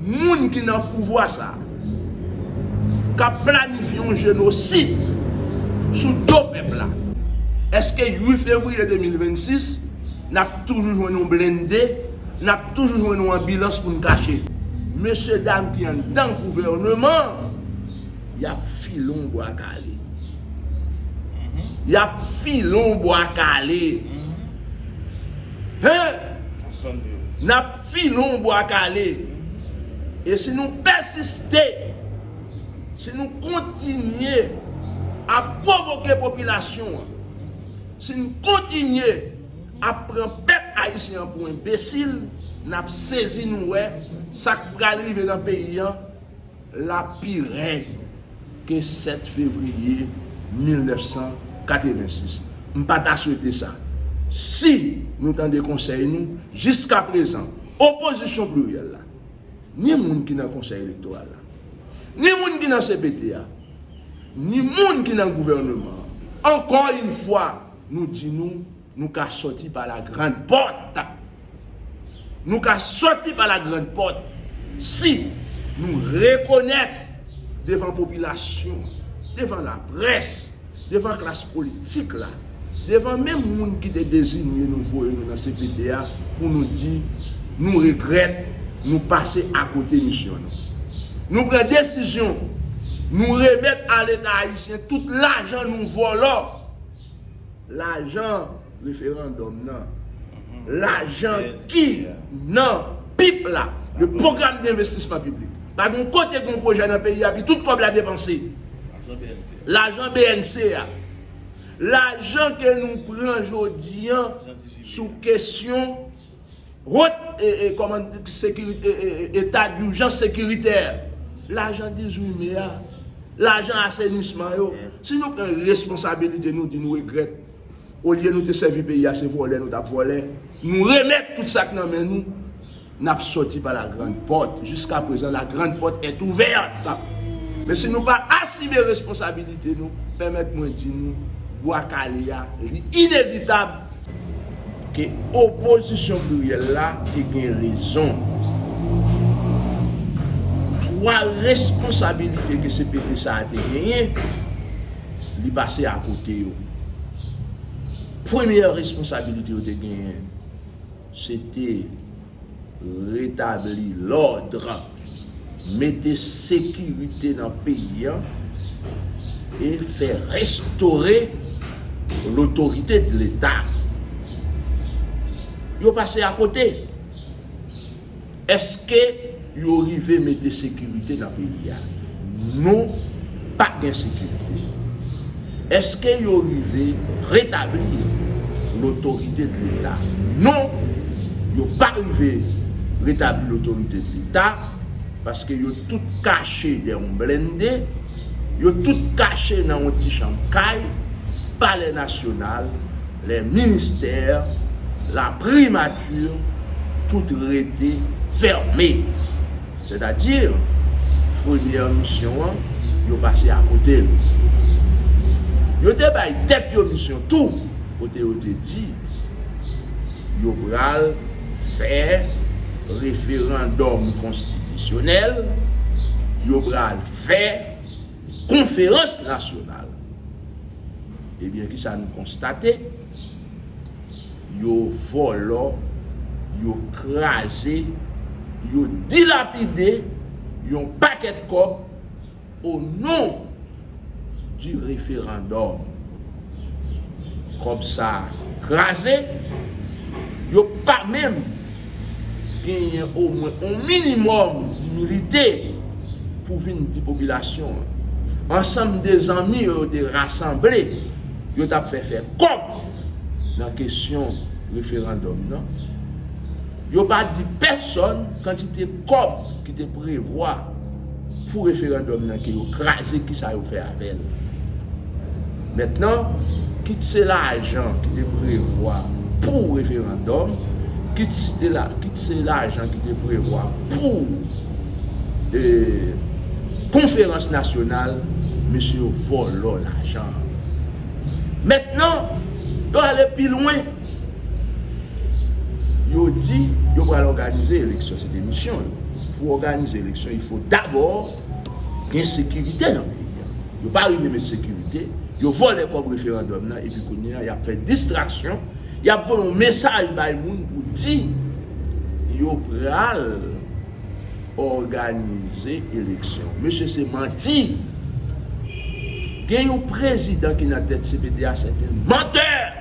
moun ki nan pouvwa sa a k ap planifye yon jenosid sou do pèp la, èske 8 fevriye 2026 n ap toujou jwenn yon blende, n ap toujou jwenn yon anbilans pou n kache mesye dam ki anndan gouvèneman an? Y ap file yon bwa kale. Y ap file yon bwa kale. Hen! N ap. Filon Bwa Kale. E si nou pèsiste, si nou kontinye ap pwovoke popilasyon an, si n kontinye ap pran pèp ayisyen an pou enbesil, n ap sezi nou wè sa k pral rive nan peyi an, Lap pi rèd ke 7 fevriye 1986. M pa ta swete sa. Si nou tande konsèy nou, jiskaprezan, opozisyon pliryèl la, ni moun ki nan konsèy elektoral la, ni moun ki nan cpt a, ni moun ki nan gouvèneman an, ankò yn fwa nou di nou, Nou ka sòti pa la grand pòt. Nou ka sòti pa la grand pòt si nou rekonèt devan popilasyon, devan laprès, devan klas politik la, devan menm moun ki te dezinye nou voye nou nan cpt a pou nou di nou regrèt nou pase akote misyon nou. Nou pran desizyon nou remèt a leta ayisyen tout lajan nou vòlò. Lajan referandòm nan. Lajan ki nan pip la. Le program de investisman piblik. Pa gen yon kote gen yon pwojè nan peyi a pi tout kòb la depanse. Lajan BNC a. Lajan ke nou pran jodi an sou kesyon. Ront e e koman sekirite e e eta durjans sekiritè lajan 18 me a lajan asenisman yo si nou pran responsabilite nou di nou regrèt olye nou te sèvi peyi a se vòlè nou tap vòlè nou remèt tout sak nan men nou nap sòti pa la grand pòt jiska prezan la grand pòt est ouverte men si nou pa asime responsabilite nou pèmèt mwen di nou bwa kale a li inevitab Ke opozisyon pliryèl la te gen rezon. Pwa responsabilite ke cpt sa a te genyen, li pase a kote yo. Premyè responsabilite yo te genyen, se te. Retabli lòdre, mete sekirite nan peyi an e fè restore lotorite de leta. Yo pase akote. Eske Yo rive mete sekirite nan peyi a. Nou pa gen sekirite. Eske yo rive retabli lotorite de leta. Non, yo pa rive retabli lotorite de leta, paske yo tout kache dè yon blende, yo tout kache nan yon ti chanm kay, palè nasyonal, Le minister la primature tout rete ferme. C'est à dire première mission an yo pase a kote l. Yo te bay tèt yo mission tou kote yo te di yo pral fè referandòm konstitisyonèl, yo pral fè. konferans nasyonal. Ebyen ki sa nou konstate? Yo vòlò, yo kraze, yo dilapide yon pakèt kòb o non di referandòm. Kòb sa kraze, yo pa menm. genyen omwen yon minimòm dimilite pou vin di popilasyon an, ansanm de zanmi yo yo te rasanble, yo t ap fè fè kòb nan kesyon referandòm nan, yo pa di pèsòn kantite kòb ki te prevwa Pou referandòm nan ke yo kraze kisa yo fè avèl. Mentnan kit se lajan ki te prevwa pou referandòm, kit se lajan ki te prevwa pou konferans nasyonal, mesye yo vòlò lajan. Mentnan yo ale pi lwen. Yo di yo pral òganize eleksyon, se te misyon yo. Pou òganize eleksyon, il fo dabò gen sekirite nan peyi a. Yo pa rive met sekirite, yo vòlè kòb referandòm nan epi kounye a y ap fè distraksyon, y ap voye yon mesaj bay moun pou di yo pral òganize eleksyon. Mesye se manti! Gen yon prezidan ki nan tèt cpt a, se te mantè!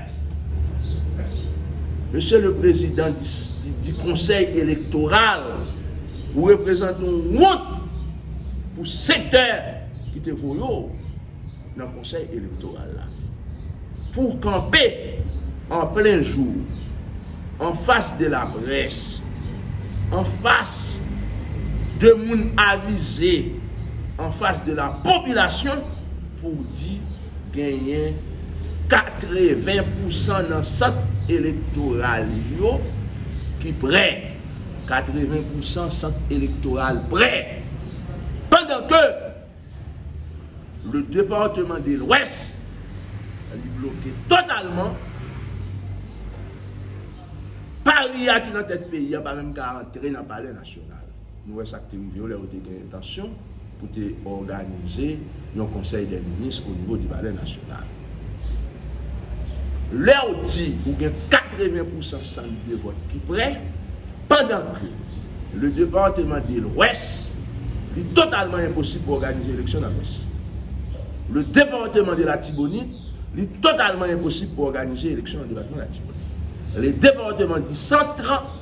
Mesye le prezidan di konsèy elektoral ou reprezante yon wont pou sektè ki te voye w nan konsèy elektoral la. Pou w kanpe an plen jou an fas de la près, an fas de moun avize, an fas de la popilasyon pou w di. Genyen 80 pousan nan sant elektoral yo ki prè. 80 pousan sant elektoral prè. Pandan ke le departeman de lwès li bloke totalman. Paria ki nan tèt peyi a pa menm ka antre nan palè nasyonal. Nou wè sa k te rive yo lè yo te gen entansyon pou te òganize yon konsèy dè minis onivo di palè nasyonal. Lè w di ou gen 80 pousan sant de vòt ki prè, pandan ke le departeman de lwès, li totalman enposib pou òganize eleksyon nan lwès. Le departeman de latibonit, li totalman enposib pou òganize eleksyon nan depatman latibonit. Le departeman di sant,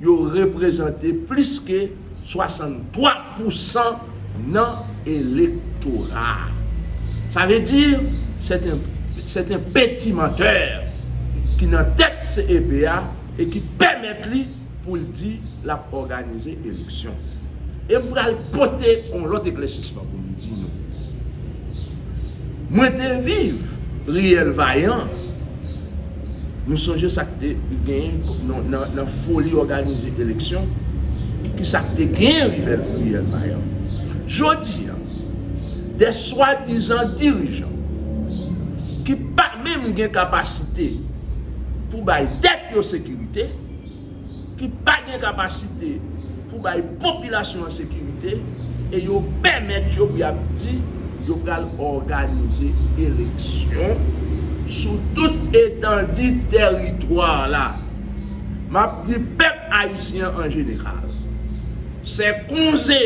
Yo reprezante plis ke 63 pousan nan elektora a. Sa vle di, sèt en peti mantè ki nan tèt CEP a e ki pèmèt li pou l di l ap òganize eleksyon. E m pral pote yon lòt eklèsisman pou m di nou. Mwen te viv riyèl Vayan. Nou sonje sa k te genyen nan foli òganize eleksyon, ki sa k te genyen rive riyèlman yo. Jodi a, de swadizan dirijan ki pa menm gen kapasite pou bay tèt yo sekirite, ki pa gen kapasite pou bay popilasyon an sekirite e yo pèmèt yo pou y ap di yo pral òganize eleksyon sou tout etandi tèritwa la. M ap di pèp ayisyen an an jeneral, sè konze,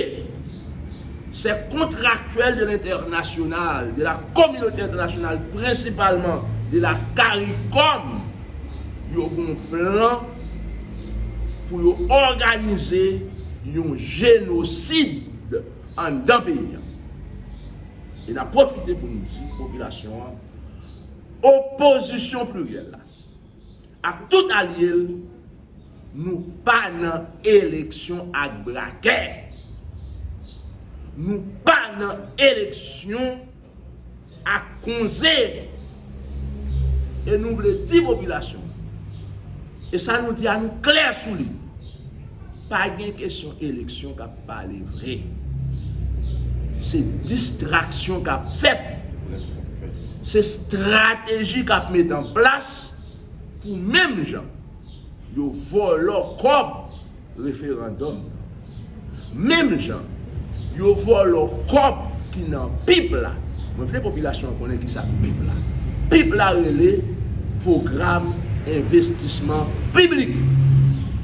sè kontraktyèl de lentènasyonal, de la kominote entènasyonal, prensipalman de la caricom, yo gon plan pou yo òganize yon jenosid anndan peyi an. E n ap pwofite pou n di popilasyon an, opozisyon pliryèl la ak tout alye l, nou pa nan eleksyon ak brakè, nou pa nan eleksyon. ak konze e nou vle di popilasyon e sa nou di a nou klè sou li pa gen kesyon eleksyon k ap pale vre se distraksyon k ap fèt se strateji k ap met an plas pou menm jan Yo vòlò kòb referandòm nan. Menm jan yo vòlò kòb ki nan pip la. Mwen vle popilasyon an konnen ki sa k pip la. Pip la rele Pwogram Envestisman Piblik.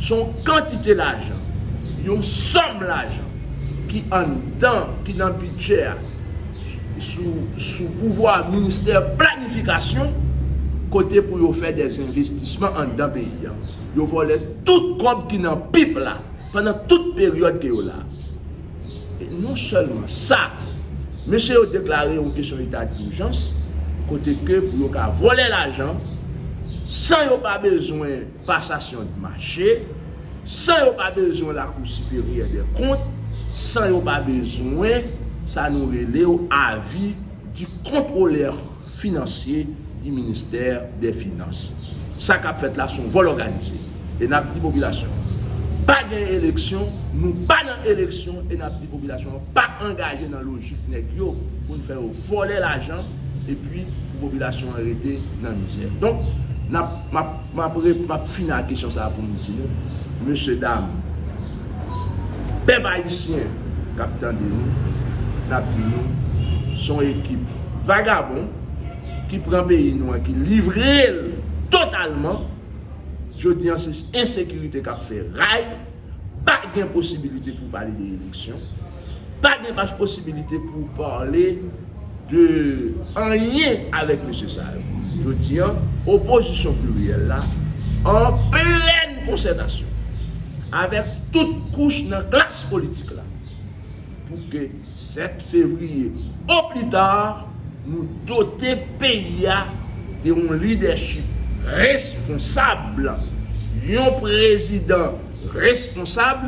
S on kantite lajan, yon sòm lajan ki anndan, ki nan bidjè a. sou pouvwa ministè planifikasyon kote pou yo fè dè zenvestisman anndan peyi a. Yo vòlè tout kòb ki nan pip la pandan tout peryòd ke yo la. E non sèlman sa, mesye yo deklare yon kesyon eta durjans kote ke pou yo ka vòlè lajan san yo pa bezwen. pasasyon d mache, san yo pa bezwen lakou siperyè dè kont, san yo pa bezwen sa nou rele w avi di kontwolè finansye di ministè dè finans. Sa k ap fèt la s on vòl òganize e n ap di popilasyon an pa gen eleksyon, nou pa nan eleksyon e n ap di popilasyon an pa angaje nan lojik nèg yo pou n fè yo vòlè lajan epi pou popilasyon an rete nan mizè. Donk, n ap, m ap. M ap rep, m ap fini ak kesyon sa a pou m di nou, mesye dam, pèp ayisyen k ap tande nou, n ap di nou, s on ekip vagabon ki pran peyi nou an, ki livre l totalman, jodi an se ensekirite k ap fè ray. Pa gen posibilite pou pale de eleksyon, pa gen pas posibilite pou pale de anyen avèk mesye sa yo. Jodi an, opozisyon pliryèl la an plèn konsètasyon avèk tout kouch nan klas politik la pou ke 7 fevriye o plita, nou dote peyi a de yon lidèchip responsab, yon prezidan responsab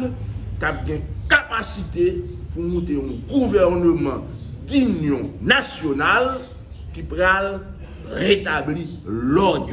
k ap gen kapasite pou moute yon gouvèneman dinyon nasyonal ki pral retabli lòd.